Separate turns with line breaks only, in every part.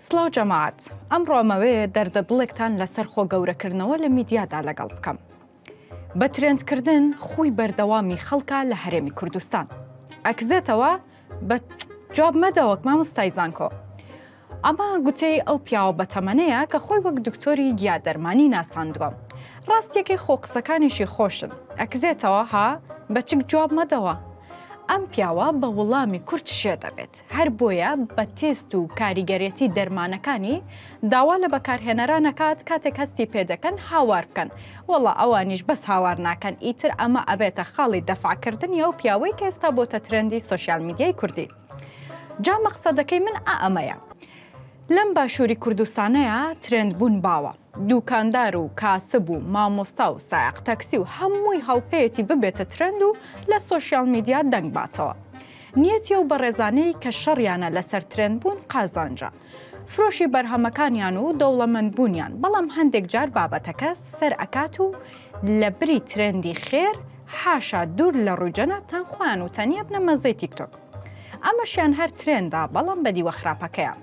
سڵاو جەماعەت ئەمڕۆ ئەمەوێ دەردە دڵێکتان لەسەر خۆ گەورەکردنەوە لە میدیادا لەگەڵ بکەم بە ترێندکردن خوی بەردەوامی خەڵکە لە هەرێمی کوردستان ئەکزێتەوە بە جواب مەدەوەک مامۆستای زانکۆ ئەمە گوتەی ئەو پیاوە بەتەمەنەیە کە خۆی وەک دکتۆری گیا دەرمانی ناساندووە ڕاستیەکەی خۆ قسەکانیشی خۆشن ئەکزێتەوە ها بەچک جواب مەدەوە ئەم پیاوە بە وڵامی کورت شێ دەبێت. هەر بۆیە بە تێست و کاریگەرێتی دەرمانەکانی داوا لە بەکارهێنەران نەکات کاتێک هەستی پێدەکەن هاوار بکەن وەڵا ئەوانیش بەس هاوار ناکەن ئیتر ئەمە ئەبێتە خاڵی دەفعکردنی ئەو پیاوەی کە ئێستا بۆتە ترەندی سۆشیال میدیای کوردی جا مەقسەدەکەی من ئا ئەمەیە لەم باشووری کوردستانەیە ترند بوون باوە دووکاندار و کاسب و مامۆستا و سایق تەکسی و هەمووی هەڵپەیەتی ببێتە ترند و لە سۆشیال میدیا دەنگ باتەوە. نیەتی ئەو بەڕێزانەی کە شەڕیانە لەسەر ترێند بوون قازانجە فرۆشی بەرهەمەکانیان و دەوڵەمەند بوونیان بەڵام هەندێک جار بابەتەکە سەر ئەکات و لە بری ترێندی خێر حاشا دوور لە ڕووی جەنابتان خۆیان و تەنی ئەبنە مەزەی تیکتۆک ئەمەشیان هەر ترێندە بەڵام بەدیوە خراپەکەیان.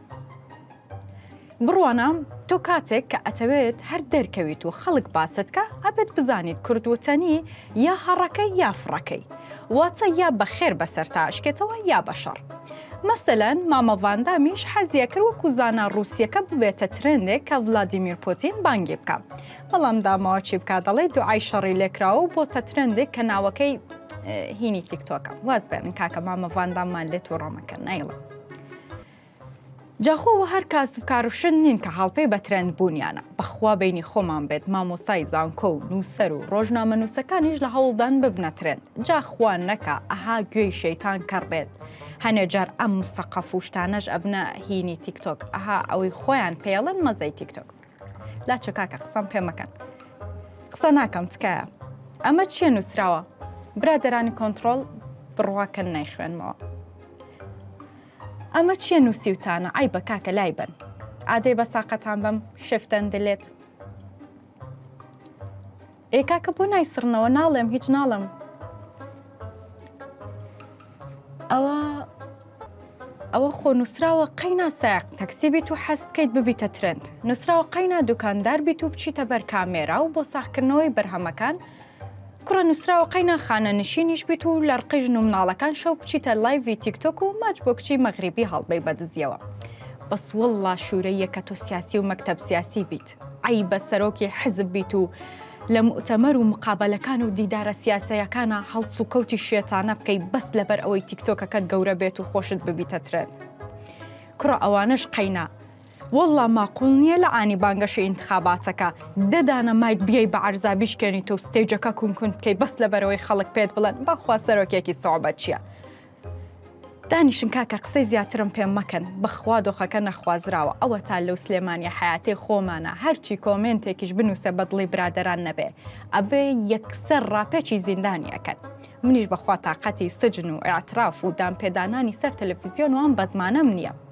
بڕوانە تۆ کاتێک کە ئەتەوێت هەر دەرکەویت و خەڵک باست کە ئەبێت بزانیت کورد وتەنی یا هەڕەکەی یا فڕەکەی واتە یا بە خێر بەسەر تا ئەشکێتەوە یا بە شەڕ مەسەلەن مامە ڤاندامیش حەزیە کرد وەکو زانا ڕووسیەکە ببێتە ترندێک کە ڤلادیمیر پۆتین بانگی بکە بەڵام داماوە چی بکات دەڵێ دوعای شەڕی لێکراوە و بۆتە ترندێک کە ناوەکەی هینی تیکتۆکە واز بێنن کاکە مامە ڤانداممان لێت و ڕۆمەکە نایڵە جا خۆ وە هەر کاسب کارفشن نین کە هاڵپەی بە ترەند بوونیانە بەخوا بینی خۆمان بێت مامۆسای زانکۆ و نووسەر و ڕۆژنامە نووسەکانیش لە هەوڵدان ببنە ترەند جا خوا نەکا ئەها گوێی شەیتان کەڕ بێت هەنێ جار ئەم مسەقەف و شتانەش ئەبنە هینی تیکتۆک ئەها ئەوەی خۆیان پێڵن مەزەی تیکتۆک لاچە کاکە قسەم پێ مەکەن قسە ناکەم تکایە ئەمە چییە نووسراوە برادەرانی کۆنتترۆل بڕواکەن نایخوێنمەوە ئەمە چیە نوسیوتانە عەیبە کاکە لای بەن ئادەی بە ساقەتان بەم شفتەن دلێت ئێ کاکە بۆ نایسڕنەوە ناڵێم هیچ ناڵم ئەوە ئەوە خۆ نووسراوە قەینا ساق تەکسی بیت و حەست بکەیت ببیتە ترند نووسراوە قەینا دوکاندار بیت و بچیتە بەر کامێرا و بۆ ساخکردنەوەی بەرهەمەکان کوڕە نوسراوە قەینا خانە نشینیش بیت و لەڕقی ژن و مناڵەکان شەو بچیتە لایڤی تیک تۆک و ماچ بۆ کچی مەغریبی هەڵبەی بە دزیەوە بەس واللە شورەییە کە تۆ سیاسی و مەکتەب سیاسی بیت عەیبە سەرۆکی حزب بیت و لە موئتەمەر و مقابەلەکان و دیدارە سیاسەیەکانا هەڵس و کەوتی شێتانە بکەی بەس لەبەر ئەوەی تیک تۆکەکەت گەورە بێت و خۆشت ببیتە ترێند کوڕە ئەوانەش قەینا وەڵڵا ماقوڵ نیە لە عانی بانگەشەی ئینتخاباتەکە دە دانە مایک بیەی بە عەرزا بیشکێنیت و ستەیجەکە کون کون بکەی بەس لەبەرەوەی خەڵک پێت بڵێن بەخوا سەرۆکێکی سوعبەت چیە دانیشن کاکە قسەی زیاترم پێ مەکەن بەخوا دۆخەکە نەخوازراوە ئەوەتا لەو سلێمانیە حەیاتەی خۆمانە هەرچی کۆمێنتێکیش بنوسێ بەدڵی برادەران نەبێ ئەبێ یەکسەر ڕاپێچی زیندانی ئەکەن منیش بەخوا تاقەتی سجن و ئیعتراف و دانپێدانانی سەر تەلەفزیۆن و ئەم بەزمانەم نیە.